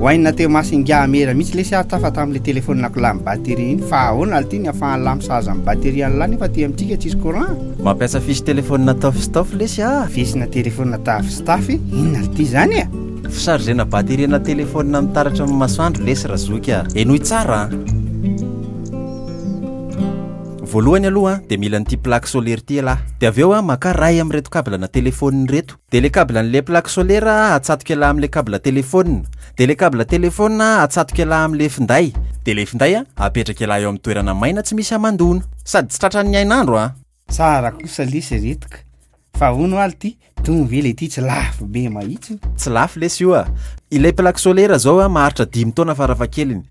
Waina teo masy ingahy Amera mihitsy lesy aho tafa tamin'ilay telefonina ko lany batterie iny fa ahoana ary ity ny afahan'ny lany sahaza amin'ny batterie an'ilay nefa aty amintsika tsisy courant Mampiasa fiche telefonina tafy sy tafy lesy aho Fisina telefonina tafy sy tafy inona ary ity izany e Fisarzena batterie na telefonina amin'ny taratra amin'ny masoandro lesy razoky a Henoy tsara a Voalohany aloha dia mila an'ity plaque solaire ity ialahy. Dia avy eo maka ray amin'ireto cable ana telephone ireto. Dia ilay cable an'ilay plaque solaire atsatoka ialahy amin'ilay cable telephone. Dia ilay cable telephone atsatoka ialahy amin'ilay finday. Dia ilay finday apetraka ialahy eo amin'ny toerana maina tsy misy hamandoana. Sady tsy tratran'ny hainandro a! Tsara kosa lesy reto ka! Fa ahoana oa ity dong ve ilay ity tsy lafo be mahitsy? Tsy lafo lesy io a! Ilay plaque solaire izao maharitra dimy taona farafahakeliny.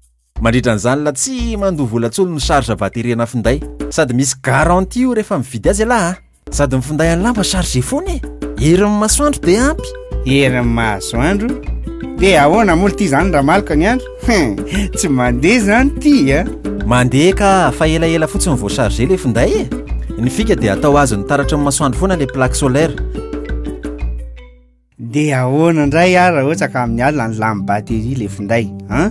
Mandritra ny zalina tsy mandoa vola tsony no charge vaterena finday. Sady misy garantie io rehefa mividy azy ialahy a. Sady ny finday any lamba charge foana e. Herin'ny masoandro dia ampy. Herin'ny masoandro? Dia ahoana moa ity zany Ramaloka ny andro? Hein, tsy mandeha zany ity a. Mandeha ka fa elaela fotsiny vao charge le finday e. Ny fika dia atao azon'ny taratry ny masoandro foana le plaque solaire. Dia ahoana indray ary raha ohatra ka amin'ny alina no lany batterie ilay finday an?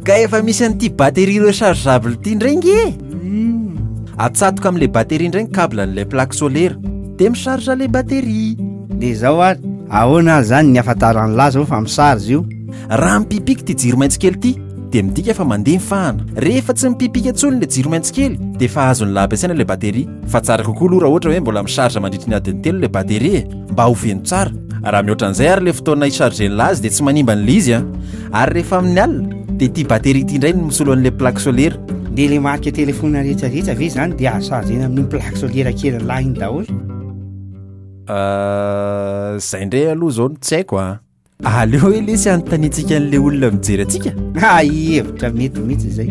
Ka efa misy an'ity batterie rechargeable ity indray nge e! Hmm. Atsatoka amin'ilay batterie indray ny cable an'ilay plaque solaire dia mi-charge ilay batterie. Dia izao ary, ahoana ary izany ny ahafantaran'ny lahy izao fa mi-charge io? Raha mipipika ity jiro maitso kely ity dia midika fa mandeha ny fahana. Rehefa tsy mipipika intsony ilay jiro maitso kely dia efa azon'ny lahy ampiasaina ilay batterie. Fa tsara kokoa aloha raha ohatra hoe mbola mi-charge mandritry ny adiny telo ilay batterie e! mba ho feno tsara. Raha mihoatra an'izay ary ilay fotoana hi-charger-n'ilay azy dia tsy manimba an'ilay izy an. Ary rehefa amin'ny alina dia ity batterie ity indray no misolo an'ilay plaque solaire. Dia ilay marika telefaonina rehetra rehetra ve izany dia azo charger-na amin'iny plaque solaire kely lahy iny daholo? Ah, izay indray aloha izao no tsy haiko an. Aleo hoe lesy hanontaniantsika an'ilay olona mijery antsika. Ah, hevitra mety mihitsy izay.